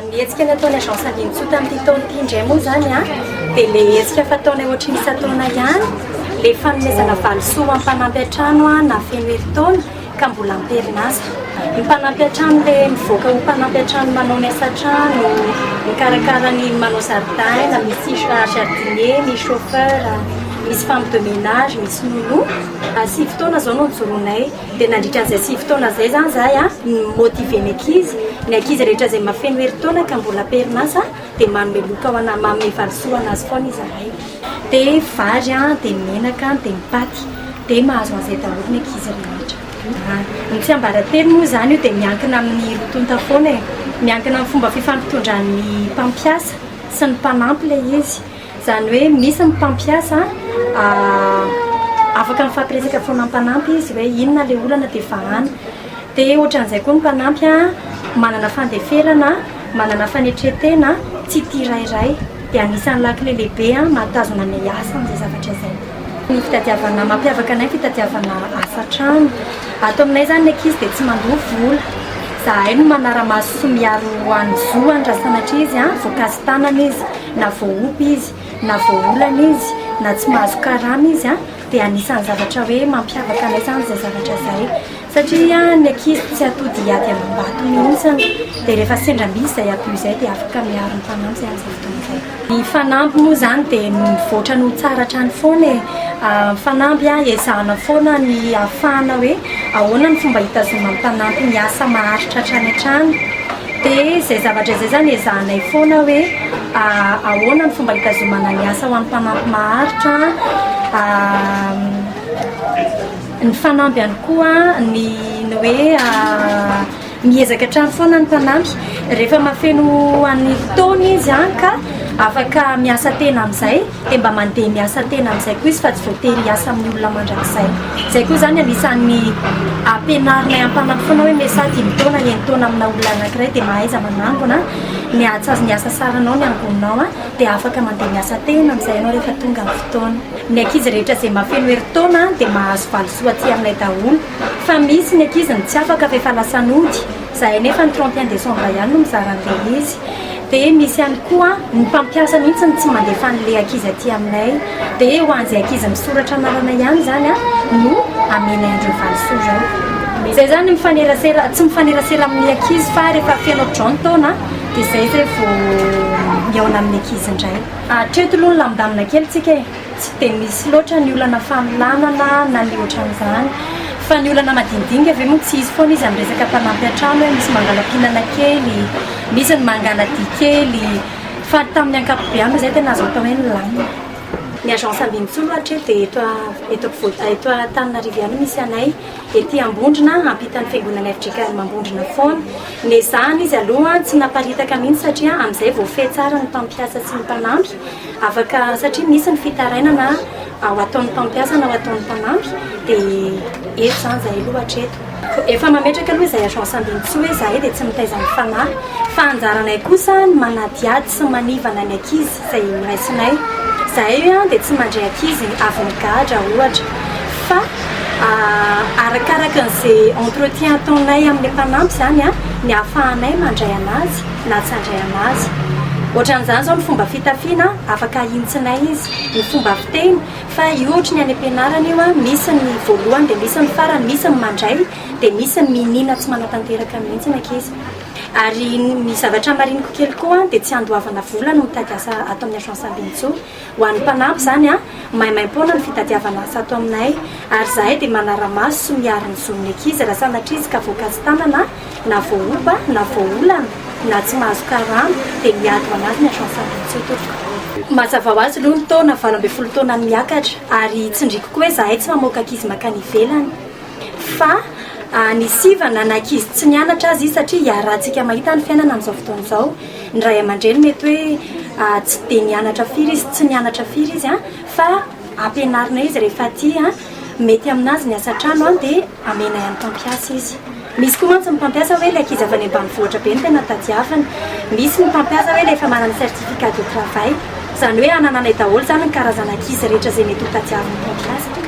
Ny hetsika nataon'ny agence Andinitsoa tamin'ity taona ity indray moa izany dia ilay hetsika fataonay ohatry ny isan-taona ihany, ilay fanomezana valisoa ho an'ny mpanampy an-trano nahafeno herintaona ka mbola am-perinasa. Ny mpanampy an-trano ilay mivoaka ho mpanampy an-trano manao ny asa an-trano, mikarakara ny manao zaridaina, misy jardinier, misy chauffeur, misy femme de ménage, misy nounou. Sivy taona izao no nijoroanay. Dia nandritra an'izay sivy taona izay izany izahay no mi-motiver ny ankizy. Ny ankizy rehetra izay mahafeno herintaona ka mbola am-perinasa dia manome loka ho ana, manome valisoa ho an'azy foana izahay. Dia vary, dia menaka, dia ny paty. Dia mahazo an'izay daholo ny ankizy rehetra. Ny tsiambaratelo moa izany io dia miankina amin'ny roa tonta foana e. Miankina amin'ny fomba fifampitondran'ny mpampiasa sy ny mpanampy ilay izy. Izany hoe misy ny mpampiasa afaka mifampiresaka foana mpanampy izy hoe inona ilay olana dia vahana. Dia ohatran'izay koa ny mpanampy manana fandeferana, manana fanetren-tena, tsy tia rairay. Dia anisan'ny lakile lehibe mahatazona ny asa amin'izay zavatra izay. Ny fitadiavana, mampiavaka anay ny fitadiavana asa an-trano. Ato aminay izany ny ankizy dia tsy mandoa vola. Izahay no manara-maso sy miaro an'ny zoany raha sanatria izy voakasi-tanana izy. Na voaompy izy, na voaolana izy, na tsy mahazo karama izy an, dia anisan'ny zavatra hoe mampiavaka anay izany izay zavatra izay. Satria ny ankizy tsy atody hiady amam-bato mihitsy an, dia rehefa sendra misy izay abus izay dia afaka miaro ny mpanampy izay amin'izay fotoana izay. Ny fanamby moa izany dia mivoatra ny ho tsara hatrany foana e! Ny fanamby an, ezahana foana ny hahafahana hoe ahoana ny fomba hitazonan'ny mpanampy ny asa maharitra hatrany hatrany. Dia izay zavatra izay izany ezahanay foana hoe ahoana ny fomba hitazomana ny asa ho an'ny mpanampy maharitra, ny fanamby ihany koa ny ny hoe miezaka hatrany foana ny mpanampy rehefa mahafeno an'ny fotoana izy ka afaka miasa tena amin'izay. dia mba mandeha miasa tena amin'izay koa izy fa tsy voatery hiasa amin'ny olona mandrakizay. Izay koa izany anisan'ny ampianarinay am-panampy foana hoe mesa dimy taona eny taona amina olona anankiray dia mahaiza manangona ny hahatsaz ny asa saranao ny angononao an dia afaka mandeha miasa tena amin'izay ianao rehefa tonga ny fotoana. Ny ankizy rehetra izay mahafeno herintaona dia mahazo valisoa aty aminay daholo fa misy ny ankizy ny tsy afaka fa efa lasa nody. Zahay nefa ny trente et un décembre ihany no mizara an'ilay izy. Dia misy ihany koa ny mpampiasa mihitsy no tsy mandefa an'ilay ankizy aty aminay. Dia ho an'izay ankizy misoratra anarana ihany izany no amenay an'ireo valisoa ireo. Izay izany mifanerasera, tsy mifanerasera amin'ny ankizy fa rehefa feno hatraizao ny taona dia izay izay vao mihaona amin'ny ankizy indray. Hatreto aloha nilamindamina kely tsika e. Tsy dia misy loatra ny olana fanolanana na ny ohatran'izany. Fa ny olana madinidiniga ve moa tsy hisy foana izy amin'ny resaka mpanampy an-trano hoe misy mangala-pihinana kely, misy ny mangala-dia kely. Fa tamin'ny ankapobeny moa izay tena azo atao hoe nilamina. Ny agence Ambinintsoa aloha hatreto dia eto eto ampovoan eto Antananarivo ihany no misy anay. Ety Ambondrona ampitan'ny fiangonan'ny fjkm Ambondrona foana. Nezahina izy aloha tsy naparitaka mihitsy satria amin'izay vao feno tsara ny mpampiasa sy ny mpanampy. Afaka satria misy ny fitarainana ao ataon'ny mpampiasa na ao ataon'ny mpanampy dia eto izany izahay aloha hatreto. Efa mametraka aloha izay agence ambinintsoa hoe izahay dia tsy mitaiza ny fanahy fa anjaranay kosa ny manadihady sy manivana ny ankizy izay raisinay. Izahay dia tsy mandray ankizy avy nigadra ohatra fa arakaraka an'izay entretien ataonay amin'ny mpanampy izany ny ahafahanay mandray an'azy. na tsy handray an'azy. Ohatran'izany izao ny fomba fitafiana, afaka ahintsinay izy, ny fomba fiteny, fa io ohatry ny any am-pianarana io, misy ny voalohany dia misy ny farany, misy ny mandray dia misy ny mihiniana tsy manatanteraka mihitsy ny ankizy. Ary ny zavatra mariniko kely koa dia tsy andoavana vola no mitady asa ato amin'ny Agence Ambinintsoa. Ho an'ny mpanampy izany, maimaim-poana ny fitadiavana asa ato aminay ary izahay dia manara-maso sy miaro ny zon'ny ankizy raha sanatria izy ka voakasi-tanana na voaoba na voaolana na tsy mahazo karama dia miady ho anazy ny Agence Andrin-Tsiotoroka. Mazava ho azy aloha ny taona valo ambin'ny folo taona miakatra ary tsindriko koa hoe izahay tsy mamoaka ankizy mankany ivelany fa ny sivana na ankizy tsy nianatra aza izy satria iarahantsika mahita ny fiainana amin'izao fotoana izao. Ny ray aman-dreny mety hoe tsy dia nianatra firy izy, tsy nianatra firy izy an, fa ampianarina izy rehefa aty an, mety aminazy ny asa an-trano an dia amenay amin'ny mpampiasa izy. Misy koa mantsy ny mpampiasa hoe ilay ankizy avy any ambanivohitra be no tena tadiaviny. Misy ny mpampiasa hoe ilay efa manana certificat de travail. Izany hoe anananay daholo izany ny karazana ankizy rehetra izay mety ho tadiavin'ny mpampiasa.